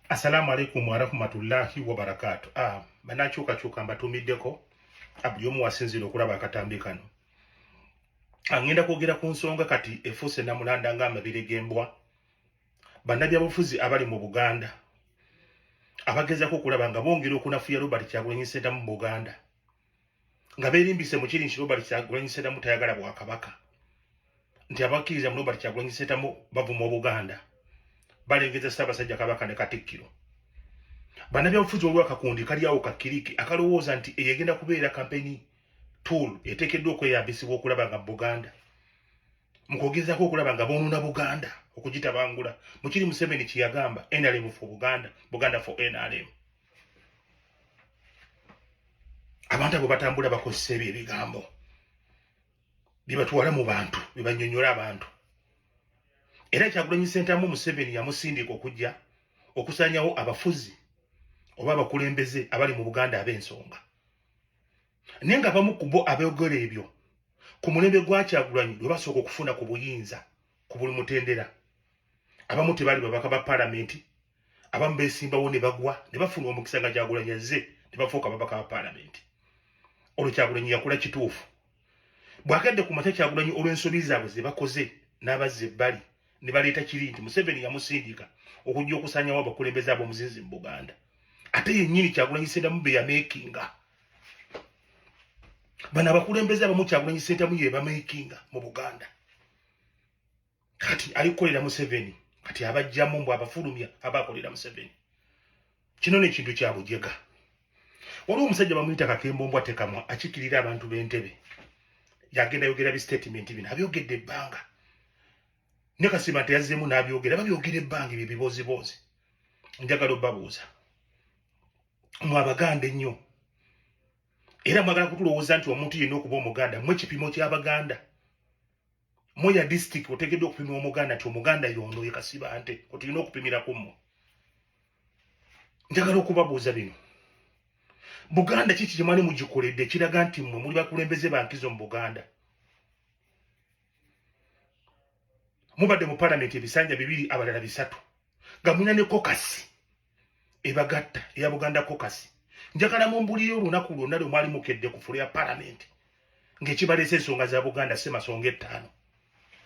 Assalamu alaikum warahmatullahi wabarakatu. Ah, banakyukakyuka mbatumiddeko ah, buli omu wasinziira okulaba akatambi kano. Angenda ah, kwogera ku nsonga kati efuuse namulanda nga amabere g'embwa. Bannabyabufuzi abali mu Buganda abagezako okulaba nga bongera okunafuya Robert Kyagulanyi Ssentamu mu Buganda. nga berimbise mu kiri nti Robert Kyagulanyi Ssentamu tayagala bwakabaka nti abakkiriza mu Robert Kyagulanyi Ssentamu bavuma Obuganda balengeza Ssaabasajja Kabaka ne Katikkiro bannabyabufuzi waliwo akakundi kali awo kakkiriki akalowooza nti eyegenda kubeera kampeni tool eteekeddwa okweyambisibwa okulaba nga Buganda mu kwogezaako okulaba nga boonona Buganda okugitabangula mu kiri Museveni kye yagamba NRM for Buganda Buganda for NRM abantu abo batambula bakozesa ebyo ebigambo byebatwala mu bantu byebanyonyola abantu era kyagulanyi sentamu museveni yamusindika okujja okusanyawo abafuzi oba abakulembeze abali mu buganda ab'ensonga naye nga bamu kubo abeyogera ebyo ku mulembe gwakyagulanyi lwe basooka okufuna ku buyinza ku buli mutendera abamu tebali babaka ba palamenti abamu besimbawo ne bagwa ne bafuna omukisa nga kyagulanyi azze ne bafuuka babaka ba palamenti olwo kyagulanyi yakula kituufu bwagadde ku makya kyagulanyi olw'ensobi zaabwe ze bakoze n'abazza ebbali ne baleeta kiri nti museveni yamusindika okujja okusanyawo abakulembeze ab'omuzinzi mu buganda ate yennyini kyagulanyi sentamu be yameekinga bano abakulembeze abamu kyagulanyi sentamu ye bameekinga mu buganda kati alikukolera museveni kati abajjamu mbu abafulumya abakolera museveni kino nekintu kyabujega waliwo omusajja bamuyita kakembombwa tekamwa akikirira abantu bentebe yagenda yogera bistatement bino abyogedde ebbanga ne kasima teyazzemu nabyogera babyogera ebbanga ebyo biboziboozi njagala obabuuza mwe abaganda ennyo era mwagala kutulowooza nti omuntu yenna okuba omuganda mwe kipimo kyabaganda Muya district otegedde okupima omuganda ti omuganda yondo ye kasibante otulina okupimira ku mmwe njagala okubabuuza bino buganda kiki kye mwali mugikoledde ekiraga nti mmwe muli bakulembeze bankizo mu buganda mubadde mu palamenti ebisanja bibiri abalala bisatu nga mulina ne kokasi ebagatta eya buganda kokasi njagala mumbuliyo olunaku lwonna lwe mwali mukedde ku fulo ya palamenti ng'ekibaleesa ensonga za buganda semasonga ettaano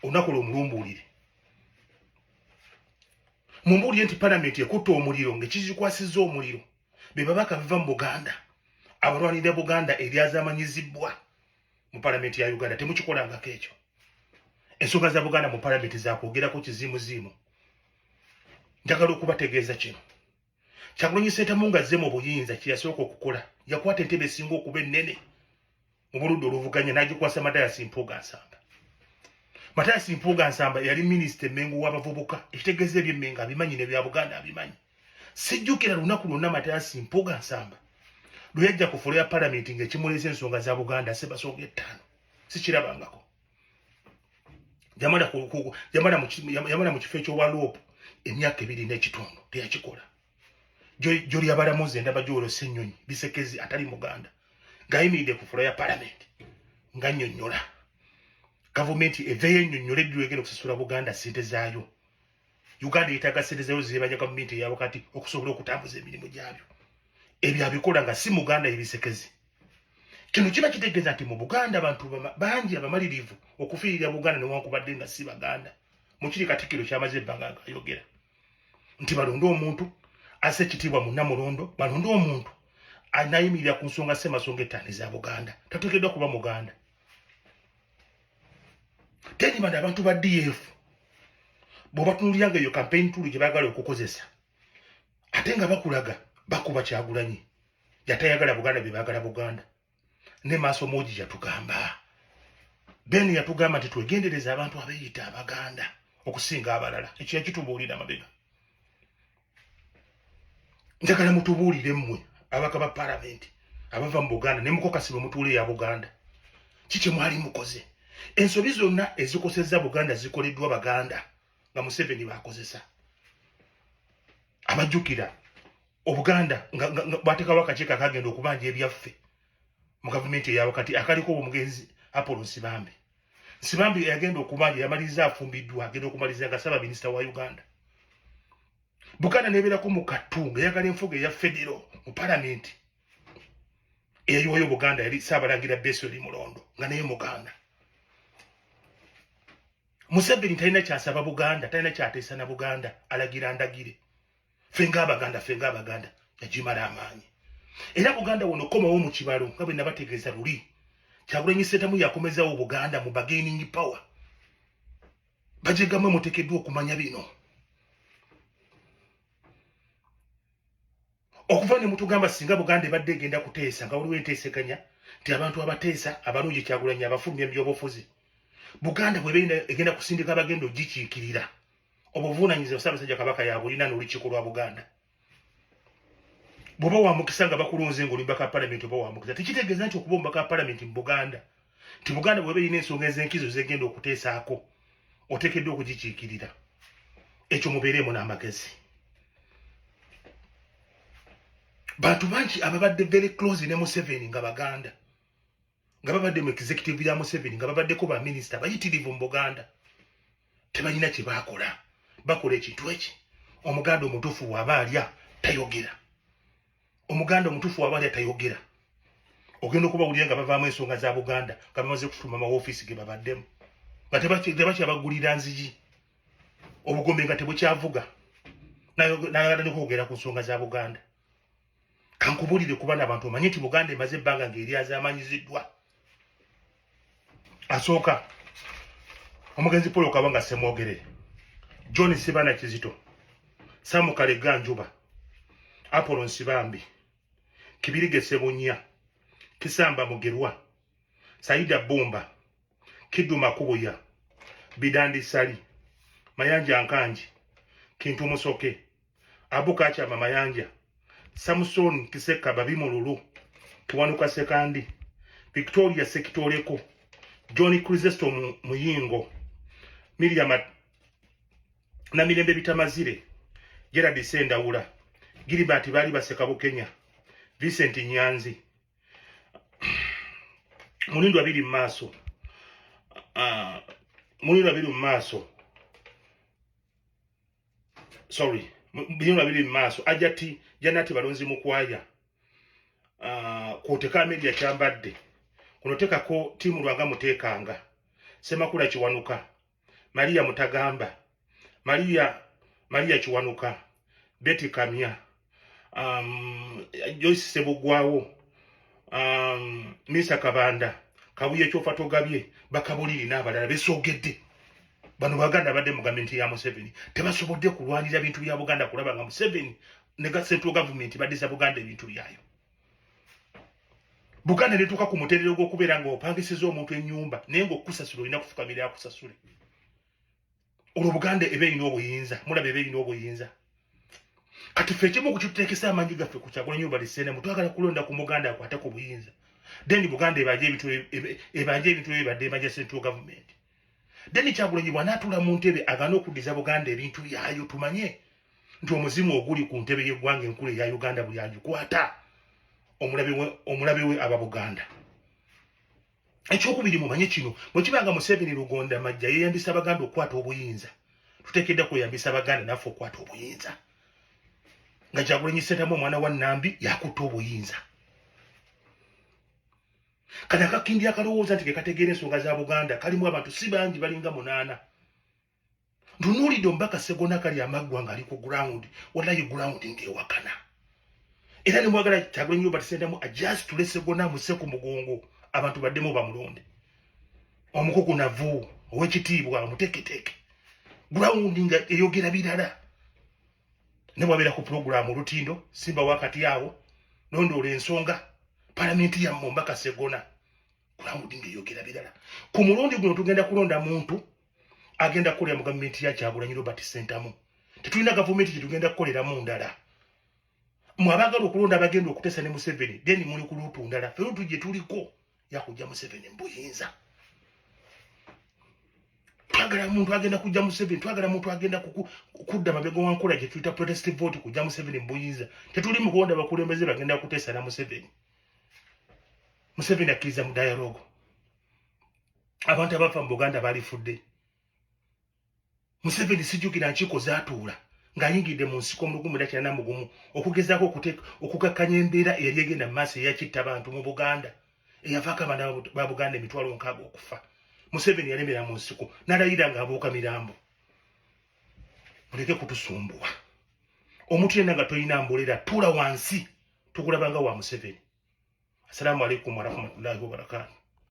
olunaku lwe mulumbuulire mumbuulire nti palamenti ekutta omuliro ng'ekizikwasiza omuliro be babaka biva mu buganda abalwanirira buganda eryazamanyizibbwa mu palamenti ya uganda temukikolangako ekyo ensonga za buganda mu palamenti zakwogerako kiziimuziimu njagala okubategeeza kino kyagulanyi sentamu nga azze mu buyinza kyeyasooka okukola yakwata entebe esinga okuba ennene mu buludde oluvuganya n'agikwasa matayasi mpuuga nsamba matayasi mpuuga nsamba yali minisita emengo w'abavubuka ekitegeeza ebyemmengo abimanyi nebya buganda abimanyi sijjukira lunaku lwonna matayasi mpuuga nsamba lwe yajja ku fulo ya palamenti ng'ekimuleesa ensonga za buganda sebasonga ettaano sikirabangako yamala ku, ku, yamala mu yamala mu kifo ekyowa loop emyaka ebiri n'ekitundu teyakikola gyoli abalamuzi endaba gyolo senyonyi bisekezi atali muganda ng'ayimiridde ku fula ya palamenti nga nyonyola gavumenti eveyo enyonyola eddula egenda okusasula buganda sente zaayo uganda yetaga sente zayo zebaja gavumenti eyawakati okusobola okutambuza emirimu gyabyo ebyo abikola nga si muganda ebisekezi kino kiba kitegeeza nti mu buganda abantu bangi abamalirivu okufiirira buganda newankubadde nga si baganda mukiri katikiro kyamaze ebbanga nga ayogera nti balonde omuntu ase ekitiibwa munamulondo balonde omuntu anayimirira ku nsonga semasonga ettaano eza buganda tateekeddwa kuba muganda tedimandi abantu ba df bwebatunulira nga eyo kampeyini tulu gye bagala okukozesa ate nga bakulaga bakuba kyagulanyi yatayagala buganda bye bagala buganda ne maaso moji yatugamba beni yatugamba nti twegendereza abantu abeyita abaganda okusinga abalala ekyo yakitubuulira mabega njagala mutubuulire mmwe abaka ba palamenti abava mu buganda ne mukokasi bwe mutuula eya buganda ki kye mwali mukoze ensobi zonna ezikosezza buganda zikoleddwa baganda nga museveni baakozesa abajjukira obuganda bwateekawo akakiiko akagenda okubanja ebyaffe mu gavumenti eyawakati akaliko omugenzi apolo nsibambe Sibambi yagenda okumanya yamaliriza afumbiddwa agenda okumaliza nga saba minisita wa Uganda. Buganda nebeerako mu kattu nga yagala enfuga eya federo mu palamenti eyayiwayo Buganda yali Ssaabalangira Besweri Mulondo nga naye Muganda. Museveni talina kyasaba Buganda, talina kyateesa na Buganda, alagira ndagire. ffe ng'abaganda ffe ng'abaganda nagimala amaanyi era buganda wono komawo mu kibalo nga bwe nabategeeza luli kyagulanyi setamu yakomezawo buganda mu bagaining power bajegamwe mutekeddwa okumanya bino okuva ne mutugamba singa buganda ebadde egenda kuteesa nga waliwo enteesekanya nti abantu abateesa abalungi kyagulanyi abafulumya mu byobufuzi buganda bweba egenda kusindika abagenda ogikiikirira obuvuunanyizibwa ssaabasajja kabaka yabulina n'olukiiko lwa buganda bwoba wamukisa nga bakulonze nga olimba ka palamenti oba wamukisa tekitegeeza nti okuba omubaka wa palamenti mu buganda nti buganda bweba erina ensonga ez'enkizo zegenda okuteesaako oteekeddwa okugikiikirira ekyo mubeereemu n'amagezi bantu bangi ababadde very close ne museveni nga baganda nga babadde mu executive ya museveni nga babaddeko baminisita bayitirivu mu buganda tebalina kye bakola bakola ekintu eki omuganda omutuufu waaba alya tayogera omuganda omutuufu waaba alya tayogera ogenda okubawulira nga bavaamu ensonga za buganda nga bamaze kufuluma mawofiisi ge babaddemu nga tebakyabagulira nzigi obugombe nga tebukyavuga nayagala nokwogera ku nsonga za buganda kankubulire kuba nabantu omanye nti buganda emaze ebbanga ngaeryazamanyiziddwa asooka omugenzi paul okaba nga semwogere john sibana kizito samukalega njuba apolo nsibambi kibirige sebunya kisamba mugerwa saida bumba kiduma kubuya bidandi sali mayanja nkanji kintu musoke abu kakyama mayanja samuson kiseka babi mululu kiwanuka sekandi victoria sekitoleko john krisesto muyingo miriam namirembe bitamazire gerard sendawula gilibert baali baseka bukenya vincent nyanzi mulindu abiri mu maaso ah, mulindu abiri mu maaso sorry binyuma biri mu maaso ajati janati balonzi mukwaya uh, kwoteka media kyambadde kuno tekako tiimu lwanga muteekanga semakula kiwanuka maria mutagamba maria maria kiwanuka beti kamya um, Joyce Sebugwawo um, Misa Kabanda kabuye kyofa togabye bakabuliri n'abalala besogedde bano baganda badde mu gavumenti ya Museveni tebasobodde kulwanira bintu bya Buganda kulaba nga Museveni ne central government baddiza Buganda ebintu byayo Buganda netuuka ku muterero gw'okubeera nga opangisiza omuntu ennyumba naye nga okusasula olina kufukamira akusasule olwo buganda eba erina obuyinza mulaba eba erina obuyinza kati fe ekimu okukitekesa amanyi gaffe ku kyagulanyi obalisenemu twagala kulonda ku muganda akwate ku buyinza then buganda ebanje ebintu ebanje ebintu ebibadde ebanja central government then kyagulanyi bwanatula mu ntebe agana okudiza buganda ebintu byayo tumanye nti omuzimu oguli ku ntebe yeggwanga enkulu eya uganda buli agikwata omulabe we omulabe we aba buganda ekyokubiri mumanye kino bwekiba nga museveni lugonda majja yeyambisa abaganda okukwata obuyinza tutekedda kweyambisa abaganda naffe okukwata obuyinza nga kyagulanyi sentamu omwana wa nambi yakutta obuyinza kati akakindi akalowooza nti kekategeera ensonga za buganda kalimu abantu si bangi balinga munaana ntunuulidde omubaka segona kali amaggwa nga ali ku ground walayi ground ng'ewakana era ne mwagala kyagula nyo batisendamu ajasi tule segona muse ku mugongo abantu baddemu bamulonde omukuku navu owekitiibwa omuteketeke ground nga eyogera birala ne bwabeera ku pulogulaamu olutindo simba wakati awo nondoola ensonga palamenti yammwe omubaka segona ground nga eyogera birala ku mulundi guno tugenda kulonda muntu agenda kukolera mu gavumenti ya kyagulanyi robert sentamu tetulina gavumenti gyetugenda kukoleramu ndala mwe abaagala okulonda abagenda okutesa ne museveni then muli ku luutu ndala fe luutu gye tuliko yakujja museveni mbuyinza twagala muntu agenda kujja museveni twagala muntu agenda kudda mabega wankola gye tuyita protest vote kujja museveni mbuyinza tetuli mu kulonda abakulembeze bagenda kutesa na museveni museveni akkiriza mu dialogo abantu abafa mu buganda balifudde museveni sijukira nkiiko zatuula ng'ayingidde mu nsiko mulugumu era kirana mugumu okugezaako okukakkanya embeera eyali egenda mu maaso eyakitta abantu mu buganda eyavaako abaana ba buganda emitwalo nkaaga okufa museveni yalemera mu nsiko nalayira ng'abuuka mirambo muleke kutusumbuwa omuntu yenna nga tolina mbolera tuula wansi tukulabanga wa museveni assalamu alaikum warahmatullahi wabarakatu